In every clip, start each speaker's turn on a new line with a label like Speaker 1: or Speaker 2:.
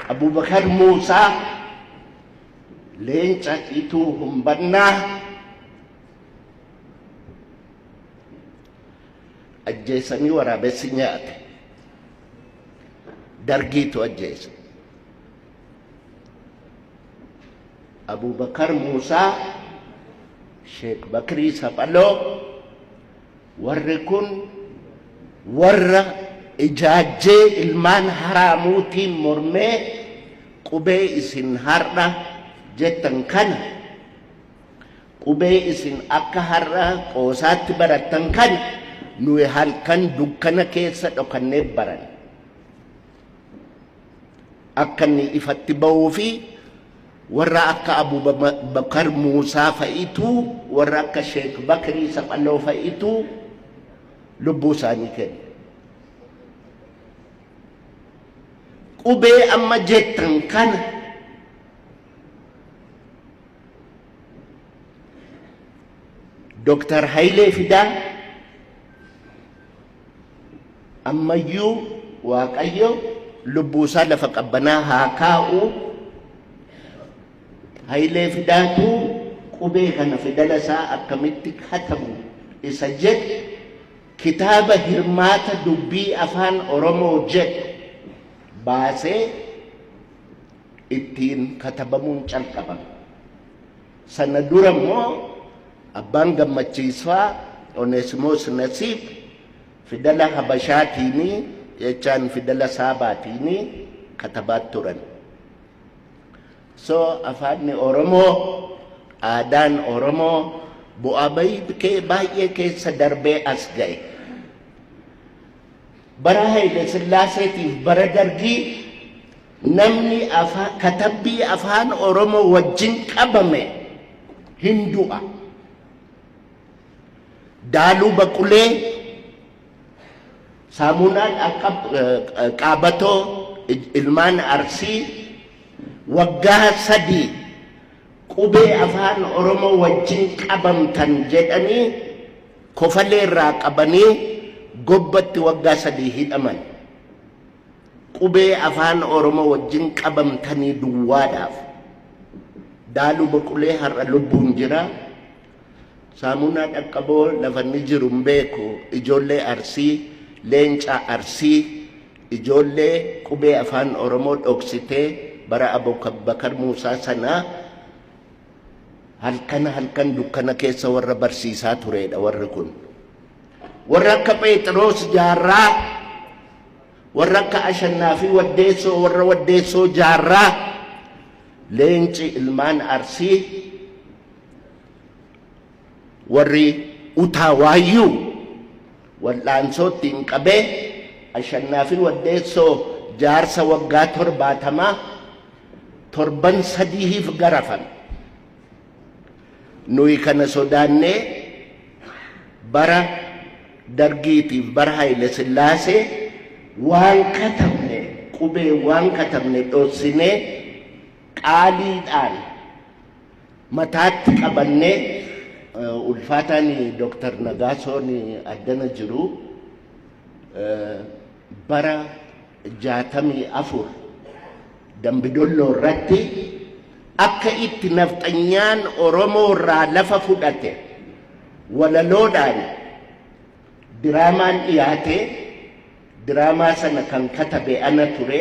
Speaker 1: Abubakar Muusaa, Leenca Ituu Humbannaa, ajjeesanii waraabessi nyaate. Dargiitu ajjeese. Abubakar Muusaa, Sheek Bakrii Saphaloo, Warri kun warra ijaajjee ilmaan haraamuutiin mormee qubee isin har'a jettan kana qubee isin akka har'a qoosaatti barattan kana nuyi halkan dukkana keessa dhokannee baran. akka inni ifatti ba'uu fi warra akka Abu Bakar Muusaa fa'itu warra akka Sheek Bakrii Saphaloo fa'itu lubbuu isaanii kenne. Qubee amma jettan kana Dooktar Hayilee Fidaa Ammayyuu Waaqayyo lubbuusaa lafa qabbanaa haa kaa'u. Hayilee Fidaatuu qubee kana fidala isaa akkamitti katabu isa jedhu kitaaba hirmaata dubbii afaan Oromoo jedhu baasee ittiin katabamuun calqabame. Sana dura immoo Abbaan Gammachiisfaa Onesimoos Nasiib fidala Habashaatiini jechaan fidala Saabaatiini katabaat turan. So afaanni Oromoo, aadaan Oromoo bu'aa bayii baay'ee keessa darbee as gahe. Bara Hayilesillaaseetiif bara Dargii. Namni katabbii Afaan Oromoo wajjin qabame hin du'a. Daaluu Baqulee, Saamuunaa Qaabatoo ilmaan Arsii waggaa sadii qubee Afaan Oromoo wajjin qabamtan jedhanii kofalee irraa qabanii gobbatti waggaa sadii hidhaman. Qubee Afaan Oromo wajjin qabamtanii duwwaadhaaf. Daaluu Boqulee har'a lubbuun jira. Saamunaa Dhaqqaboo lafa inni jiru hin beeku. Ijoollee Arsii, Leencaa Arsii, ijoollee qubee Afaan Oromoo dhoksitee bara Abubakar Muusaa sanaa halkan halkan dukkana keessa warra barsiisaa tureedha warri kun. Warra akka Pheexiroos Jaarraa warra akka ashannaa fi waddeessoo warra waddeessoo jaarraa leenci ilmaan arsii warri utaa waayyuu wal'aansoo ittiin qabee ashannaa fi waddeessoo jaarsa waggaa torbaatamaa torban sadiihiif garafame Nuyi kana sodaannee bara Dargiitiif bara Hayile Sillaasee waan katabne qubee waan katabne dhossinee qaaliidhaan mataatti qabannee ulfaataan Dooktar Nagaasoon addana jiru bara 64 Dambi Dolloo irratti akka itti nafxanyaan Oromoo irraa lafa fudhate walaloodhaan diraamaan dhiyaate diraamaa sana kan katabe ana ture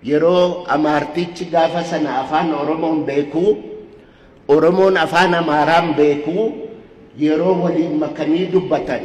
Speaker 1: yeroo amaartichi gaafa sana afaan Oromoon beeku Oromoon afaan Amaaraan beeku yeroo waliin makanii dubbatan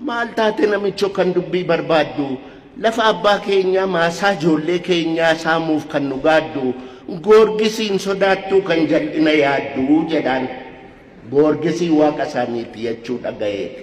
Speaker 1: Maal taate namicho kan dubbii barbaaddu Lafa abbaa keenyaa maasaa ijoollee keenyaa saamuuf kan nu gaaddu Goorgisii hin sodaattuu kan jal'ina yaaddu jedhaan Goorgisii waaqa isaaniiti jechuu dhagayeeti.